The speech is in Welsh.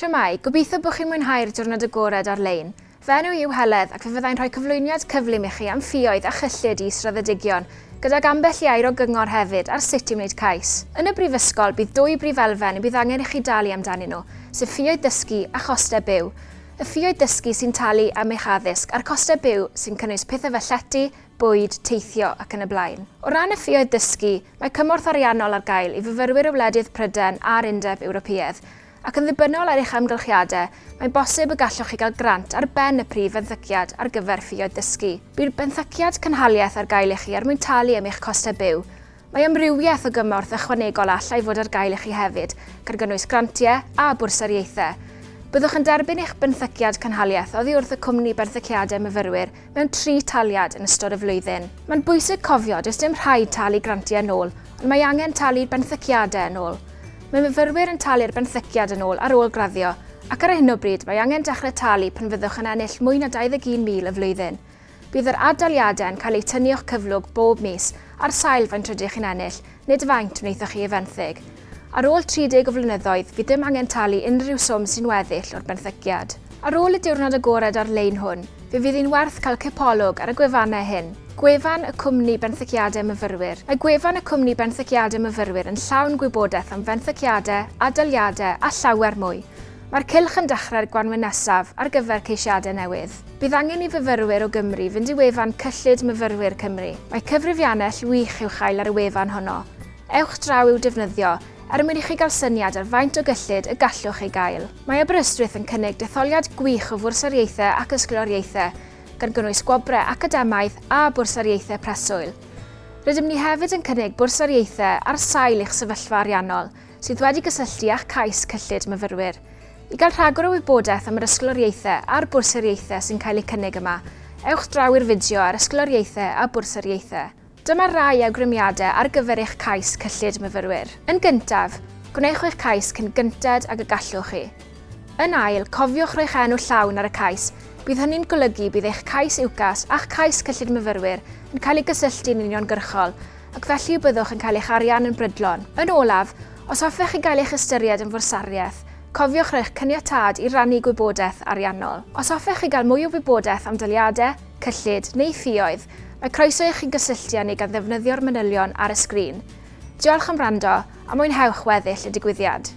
Shwmae, gobeithio bod chi'n mwynhau'r diwrnod agored ar-lein. Fy enw i yw Heledd ac fe fyddai'n rhoi cyflwyniad cyflym i chi am ffioedd a chyllid i israddedigion, gydag ambell i air o gyngor hefyd ar sut i wneud cais. Yn y Brifysgol, bydd dwy brif elfen y bydd angen i chi dalu amdanyn nhw, sef ffioedd ddysgu a chostau byw. Y ffioedd ddysgu sy'n talu am eich addysg a'r costau byw sy'n cynnwys pethau fel llety, bwyd, teithio ac yn y blaen. O ran y ffioedd ddysgu, mae cymorth ariannol ar gael i fyfyrwyr o wledydd Prydain a'r Undeb Ewropeaidd. ac yn ddibynnol ar eich amgylchiadau, mae'n bosib y gallwch chi gael grant ar ben y Prif Fenthyciad ar gyfer Ffioedd Dysgu. Bydd benthyciad cynhaliaeth ar gael i chi er mwyn talu am eich costau byw. Mae amrywiaeth o gymorth ychwanegol a allai fod ar gael i chi hefyd, gan gynnwys grantiau a bwrsariaethau. Byddwch yn derbyn eich benthyciad cynhaliaeth oddi wrth y cwmni benthyciadau myfyrwyr mewn tri taliad yn ystod y flwyddyn. Mae'n bwysig cofio does dim rhaid talu grantiau yn ôl, ond mae angen talu'r benthyciadau yn ôl. Mae myfyrwyr yn talu'r benthyciad yn ôl ar ôl graddio, ac ar hyn o bryd mae angen dechrau talu pan fyddwch yn ennill mwy na 21,000 y flwyddyn. Bydd yr ad-daliadau yn cael eu tynnu o'ch cyflwg bob mis ar sail faint rydych chi'n ennill, Nid faint wnaethoch chi ei fenthyg. Ar ôl 30 o flynyddoedd, fydd dim angen talu unrhyw swm sy'n weddill o'r benthyciad. Ar ôl y diwrnod agored ar-lein hwn, fe fydd hi'n werth cael cipolwg ar y gwefannau hyn, Gwefan y Cwmni Benthyciadau Myfyrwyr. Mae gwefan y Cwmni Benthyciadau Myfyrwyr yn llawn gwybodaeth am fenthyciadau, adaliadau a llawer mwy. Mae'r cylch yn dechrau'r gwanwyn nesaf ar gyfer ceisiadau newydd. Bydd angen i fyfyrwyr o Gymru fynd i wefan Cyllid Myfyrwyr Cymru. Mae cyfrifiannell wych i'w chael ar y wefan honno. Ewch draw i'w defnyddio er mwyn i chi gael syniad ar faint o gyllid y gallwch ei gael. Mae Aberystwyth yn cynnig detholiad gwych o fwrsariaethau ac ysgoloriaethau, gan gynnwys gwobrau academaidd a bwrsariaethau preswyl. Rydym ni hefyd yn cynnig bwrsariaethau ar sail eich sefyllfa ariannol, sydd wedi gysylltu â'ch cais cyllid myfyrwyr. I gael rhagor o wybodaeth am yr ysgoloriaethau a'r bwrsariaethau sy'n cael eu cynnig yma, ewch draw i'r fideo ar Ysgoloriaethau a Bwrsariaethau. Dyma rai awgrymiadau ar gyfer eich cais cyllid myfyrwyr. Yn gyntaf, gwnewch eich cais cyn gynted ag y gallwch chi. Yn ail, cofiwch roi'ch enw llawn ar y cais, bydd hynny'n golygu bydd eich cais UCAS a'ch cais cyllid myfyrwyr yn cael eu cysylltu'n uniongyrchol, ac felly y byddwch yn cael eich arian yn brydlon. Yn olaf, os hoffech chi gael eich ystyried yn fwrsariaeth, cofiwch roi'ch caniatâd i rannu gwybodaeth ariannol. Os hoffech chi gael mwy o wybodaeth am daliadau, cyllid, neu ffioedd, mae croeso i chi gysylltu â ni gan ddefnyddio'r manylion ar y sgrin. Diolch am wrando, a mwynhewch weddill y digwyddiad!